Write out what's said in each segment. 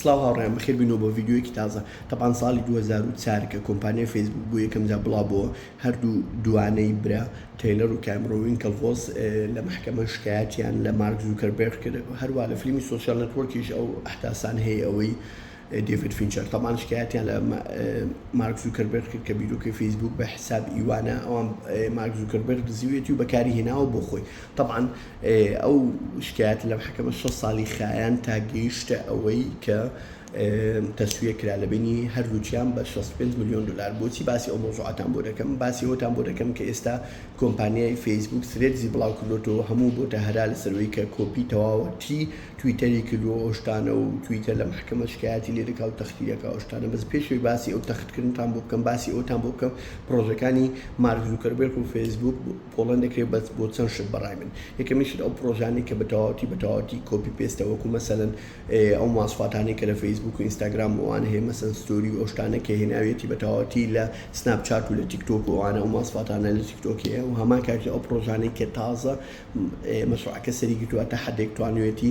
سڵاو هاوڕێیان بەخێر بینەوە بۆ ڤیدیۆیەکی تازە تەپان ساڵی 2004 کە کۆمپانیای فەیسبوک بۆ یەکەم جا بڵا بۆ هەردوو دوانەی برا تەیلەر و کامرۆ وینکەڵڤۆس لە محکەمە شکایەتیان لە مارک زوکەربێرغ کرد هەروە لە فیلمی سۆشیال نەتوەرکیش ئەو ئەحداسان هەیە ئەوەی دیڤید فینچەر تەمان شکایەتیان لە مارک زوکەربێرغ کرد کە بیرۆکەی فەیسبوک بە حساب ئیوانە ئەوان مارک زوکەربێرغ دزیوێتی و بەکاری هێناوە بۆ خۆی تەبعەن ئەو شکایەتە لەم حەکەمە شەست ساڵی خایاند تا گەیشتە ئەوەی کە تەسویە کرا لە بینی هەردووچیان بە 65 ملیۆن دلار بۆچی باسی ئەو مۆزوعاتان بۆ دەکەم باسی ئەوتان بۆ دەکەم کە ئێستا کۆمپانیای فەیسبوک سرێدزی بڵاو کردۆتەوە هەموو بۆتە هەرا لەسەروی کە کۆپی تەواوەتی تویتەری کردووە ئەوشتانە و تویتە لە محکمە شکایەتی لێ دەکا و تەختی دەکا ئەوشتانە بەس پێشوی باسی ئەو تەختکردنتان بۆ بکەم باسی ئەوتان بۆ بکەم پرۆژەکانی مارک زوکەربێرک و فەیسبوک بوو پۆڵێن دەکرێت بەس بۆ چەند شت بەڕای من یەکەمیشت ئەو پرۆژانەی کە بەتەواوەتی بەتەواوەتی کۆپی پێستە وەکو مەسەلەن ئەو ماسفاتانی کە لە فەیسبوک و ئینستاگرام وان هەیە مەسەن ستۆری و ئەو شتانە کە هێناویەتی بەتەواوەتی لە سناپ چات و لە تیکتۆک و ئەوانە ئەو ماسفاتانە لە تیکتۆک هەیە و هەمان کاتی ئەو پرۆژانەی کە تازە مەشروعەکە سەری گرتووە تا حدێک توانوێتی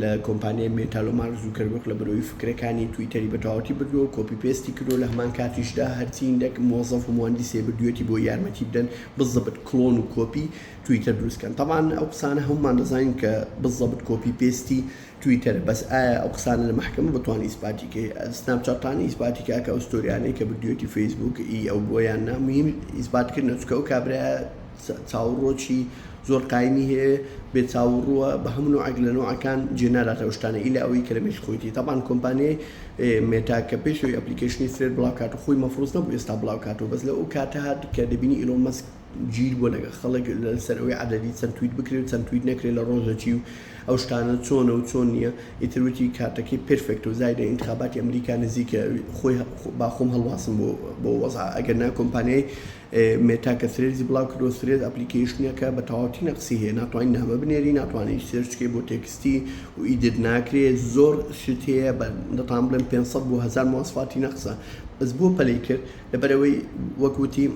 لە کۆمپانیای مێتالۆ مارک زوکەربرگ لە بەرۆی فکرەکانی تویتەری بە تەواوەتی بردوەو کۆپی پێستی کردوە لە هەمان کاتیشدا هەرچی هندەک مۆزەف و مواندیس هەیە بردویەتی بۆی یارمەتی بدەن بزەبت کلۆن و کۆپی تویتەر دروست کەن تەبعان ئەو قسانە هەمومان دەزانین کە بزەبت کۆپی پێستی تویتەرە بەس ئایا ئەو قسانە لە مەحکەمە بتوانێ ئیسپاتی کەی سناپ چات تانە ئیسپاتی کا کە ئەو ستۆریانەی کە بردویەتی فەیسبوک ی ئەو بوە یان نا مهیم ئیسپات کردنە چونکە ئەو کابرایە چاووڕووەکی زۆر قایمی هەیە بێ چاووڕووە بە هەموو نۆعێک لە نۆعەکان جێ ناداتە ئەو شتانە ئیلا ئەوەی کە لە مێشکی خۆیتی تابان کۆمپانیای مێتا کە پێش ئەوی ئەپلیکەیشنی ثرێد بڵاو کات و خۆی مەفروز نەبوو ئێستا بڵاو کاتەوە بەس لە ئەو کاتە هات کە دەبینی ئیلۆن مەسک جیر بووە لەگەڵ خەڵک لەسەر ئەوەی عەدەدی چەند تویت بکرێ و چەند تویت نەکرێ لە ڕۆژەکی و ئەو شتانە چۆنە و چۆن نییە ئیتر وتی کاتەکەی پێرفێکت و زایدە ئینتخاباتی ئەمریکا نزیکە خۆی با خۆم هەڵواسم بۆ بۆ وەزع ئەگەر نا کۆمپانیای مێتا کە ثرێدزی بڵاو کردووە، ثرێد ئەپلیکەیشنێکە بە تەواوەتی نەقسی هەیە، ناتوانی نامە بنێری، ناتوانی هیچ سێرچ بکەی بۆ تێکستی و ئیدیت ناکرێ، زۆر شت هەیە بە دەتان بڵێم پێنج سەد بۆ هەزار مواسفاتی نەقسە، بەس بۆ پەلەی کرد لەبەر ئەوەی وەک وتی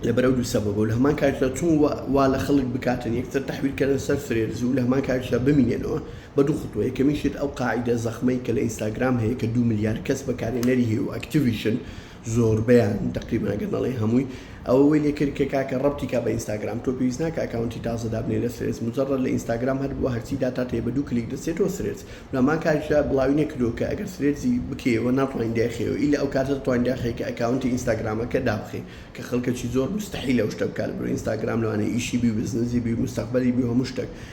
لەبەر ئەو دوو سەبەبە و لە هەمان کاتیشدا چون وا لە خەڵک بکاتن یەکتر تەحویل کەرن سەر ثرێدز و لە هەمان کاتیشدا بمینێنەوە بە دوو خطوە، یەکەمین شت ئەو قاعیدە زەخمەی کە لە ئینستاگرام هەیە کە دوو ملیار کەس بەکارهێنەری هەیە و ئەکتیڤیشن زۆربەیان تەقریبەن ئەگەر نەڵێین هەمووی ئەوە وەی لێکرد کە کاکە ڕەبتی کا بە ئینستاگرام تۆ پێویست ناکە ئەکاونتی تازە دابنێ لە سرێدز مجەڕەد لە ئینستاگرام هەر بووە هەرچی داتات هەیە بە دوو کلیک دەچێتەوە سرێدز و هەمان کاریش دا بڵاوی نەکردووە کە ئەگەر سرێدزی بکەیەوە ناتوانی دایخەیەوە ئیلا ئەو کاتە دەتوانی داخەی کە ئەکاونتی ئینستاگرامەکە دابخەی کە خەڵکەکی زۆر مستەحیلە ئەو شتە بکا لەبەرئەوەی ئینستاگرام لەوانەیە ئیشی بی و بزنسی بی و مستەقبەلی بی و هەموو شتەک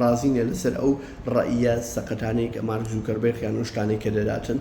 ڕازی نیە لەسەر ئەو ڕەئیە سەقەتانەی کە مارک زوکەربێرگ یان ئەو شتانەی کە دەداتن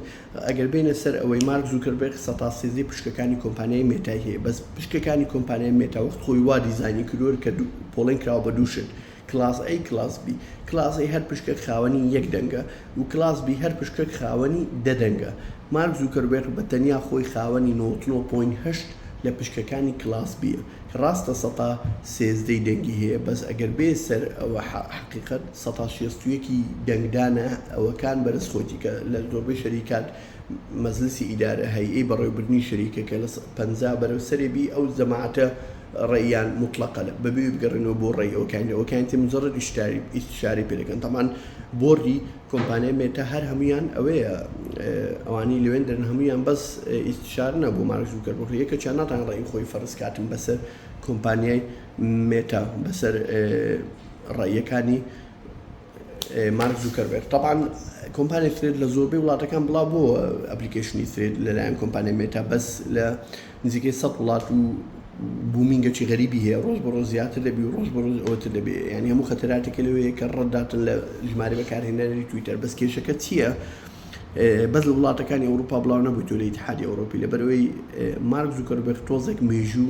ئەگەر بێینە سەر ئەوەی مارک زوکەربێرگ سەتا سێزدەی پشکەکانی کۆمپانیای مێتای هەیە بەس پشکەکانی کۆمپانیای مێتا وەخت خۆی وا دیزاینی کروەر کە دوو پۆڵێن کراوە بە دوو شت کلاس ئەی کلاس بی کلاس ئەی هەر پشکەک خاوەنی یەک دەنگە و کلاس بی هەر پشکەک خاوەنی دە دەنگە مارک زوکەربێرگ بە تەنیا خۆی خاوەنی نەوەت و نۆ پۆینت هەشت لە پشکەکانی کلاس بیە ڕاستە سەتا سێزدەی دەنگی هەیە بەس ئەگەر بێ سەر ئەوە حەقیقەت سەتا شێست و یەکی دەنگدانە ئەوە کان بەرز خۆتی کە لە زۆربەی شەریکات مەزلسی ئیدارە هەی ی بەڕێو بردنی شەریکە کە لە پەنجا بەرەو سەرێ بی ئەو جەماعەتە ڕێیان موتڵەقە لە بەبێ بگەڕێنەوە بۆ ڕێی ئەوکانی ئەوکانی تر مجەڕەد ئیشتاری ئیستشارەی پێ دەکەن تەبعەن بۆردی کۆمپانیای مێتا هەر هەموویان ئەوەیە ئەوانەی لەوێن دەرن هەموویان بەس ئیستشارنە بۆ مارک زوکەربڕ یەکەچیان ناتان ڕێی خۆی فەرزکاتن بەسەر کۆمپانیای مێتا بەسەر ڕێیەکانی مارک زوکەربێر تاان کۆمپانی فرێت لە زۆربەی وڵاتەکان بڵاو بۆ ئەپلیکیشنی فرێت لەلایەن کۆمپانی مێتا بەس لە نزیکەی سەد وڵات و بوومی گەچی غەریبی هەیە ڕۆژ بە ڕۆژ زیاتر دەبی و ڕۆژ بە ڕۆژ ئەوەتر دەبێ یانی هەموو خەتەراتێکە لەوەیە کە ڕەدداتن لە ژمارە بەکارهێنەری تویتەر بەس کێشەکە چییە بەس لە وڵاتەکانی ئەوروپا بڵاو نەبووی تۆ لە ئیتحادی ئەوروپی لەبەرەوەی مارک زوکەربێخ تۆزێک مێژوو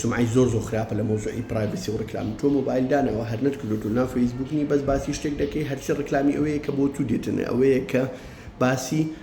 سمعی زۆر زۆر خراپە لە مۆزوعی پرایڤسی و ڕکلام تۆ مۆبایل دانەوە هەر نەت کردو تو ناو فەیسبووکنی بەس باسی شتێک دەکەی هەرچی ڕکلامی ئەوەیە کە بۆ تو دێتنە ئەوەیە کە باسی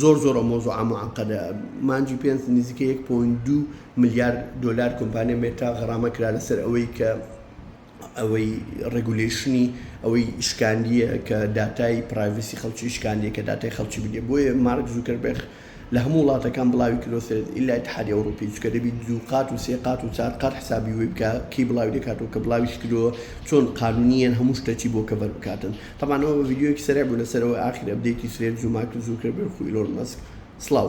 زۆر زۆر ئەو مەوزوعە موعەقەدە. مانگی پێنج نزیکەی یەک پۆینت دوو ملیار دۆلار کۆمپانیا مێتا غەڕامە کرا لەسەر ئەوەی کە ئەوەی ڕێگولەیشنی ئەوەی شکاندیە کە داتای پرایڤسی خەڵکی شکاندیە کە داتای خەڵکی بگرێ بۆیە مارک زوکەربێخ لە هەموو وڵاتەکان بڵاوی کردوە سەر ئیلا ئیتحادی ئەوڕوپی چونکە دەبی دوو قات و سێ قات و چار قات حسابی وی بکا کەی بڵاوی دەکاتەوە کە بڵاویش کردوە چۆن قانونیەن هەموو شتەکی بۆ کەڤەر بکاتن تەبان ئەوە ڤیدیۆیەکی سەرێع بوو لەسەر ئەوەی ئاخیر ئەپدەیتی سرێت زوماک زوو کرد بێ وەکو ئیلۆن مەسک سڵاو.